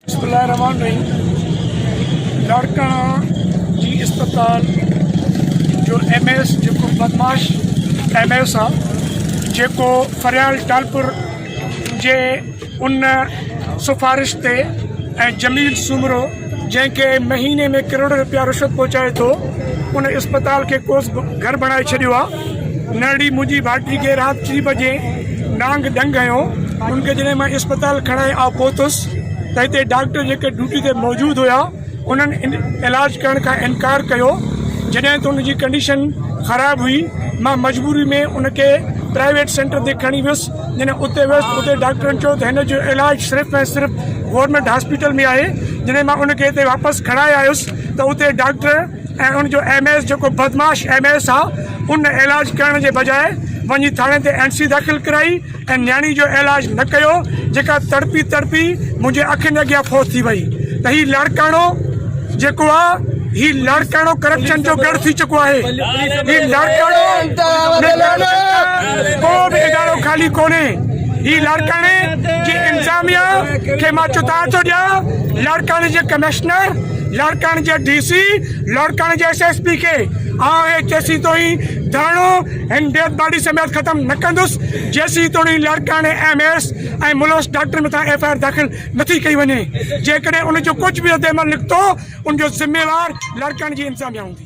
بسم الله الرحمٰن الرحيم لاڙڪاڻا جي اسپتال جو ايم اي ايس جيڪو بدمعاش ايم اي ايس آهي جيڪو فريال ٽالپر جي ان سفارش تي ۽ جميل سومرو جنهن کي مهيني ۾ ڪروڙين روپيا رشوت پهچائي ٿو ان اسپتال کي ڪوس گهر بڻائي ڇڏيو آهي نرڙي منهنجي ڀائٽي کي رات ٽي بجي نانگ ڏنگ هنيو ان کي جڏهن مان اسپتال کڻائي آء پهتس ته هتي ڊاڪٽر جيڪي ڊيوٽي تي موجود هيا انهن علاج ڪرڻ کان انڪار ڪيو جڏهن ته ان جي ڪنڊيشن خراب هئي مان مجبوري ۾ ان کي پرائيويٽ سينٽر تي کڻي ويس جڏهن اتي ويس اتي ڊاڪٽرن چيو ته هن جو علاج صرف ۽ صرف گورنمينٽ هاسپيٽل ۾ آهي جڏهن مان ان کي هتي واپس کڻائي آيس ته اتي ڊاڪٽر ۽ ان جو ايم ايس جيڪو بدمعاش ايم ايس آ ان علاج ڪرڻ جي بجاء وڃي ٿاڻي تي اين سي داخل ڪرائي ۽ نياڻي جو علاج نه ڪيو جيڪا تڙپي تڙپي منهنجي اکين اڳيان فوت ٿي وئي ته هي لاڙڪاڻو جيڪو آ هي لاڙڪاڻو ڪرپشن جو ڳڙ ٿي چڪو آهي هي لاڙڪاڻو ڪو به ادارو خالي ڪونهي هي لاڙڪاڻي جي انتظاميا کي مان چتاء ٿو ڏيان لاڙڪاڻي جي ڪمشنر لڙڪڻ جي ڊي سي لڙڪڻ جي ايس ايس پي کي آئون هي جيسين توڻي ڌرڻو هن ڊيٿ باڊي سميت ختم نه ڪندس جيسين توڻي لڙڪڻ ايم ايس ۽ ملوث ڊاڪٽر مٿان ايف آء آر داخل نٿي ڪئي وڃي جيڪڏهن ان جو ڪجهه به رد عمل نڪتو ان جو ذميوار لڙڪڻ جي انتظاميا هوندي.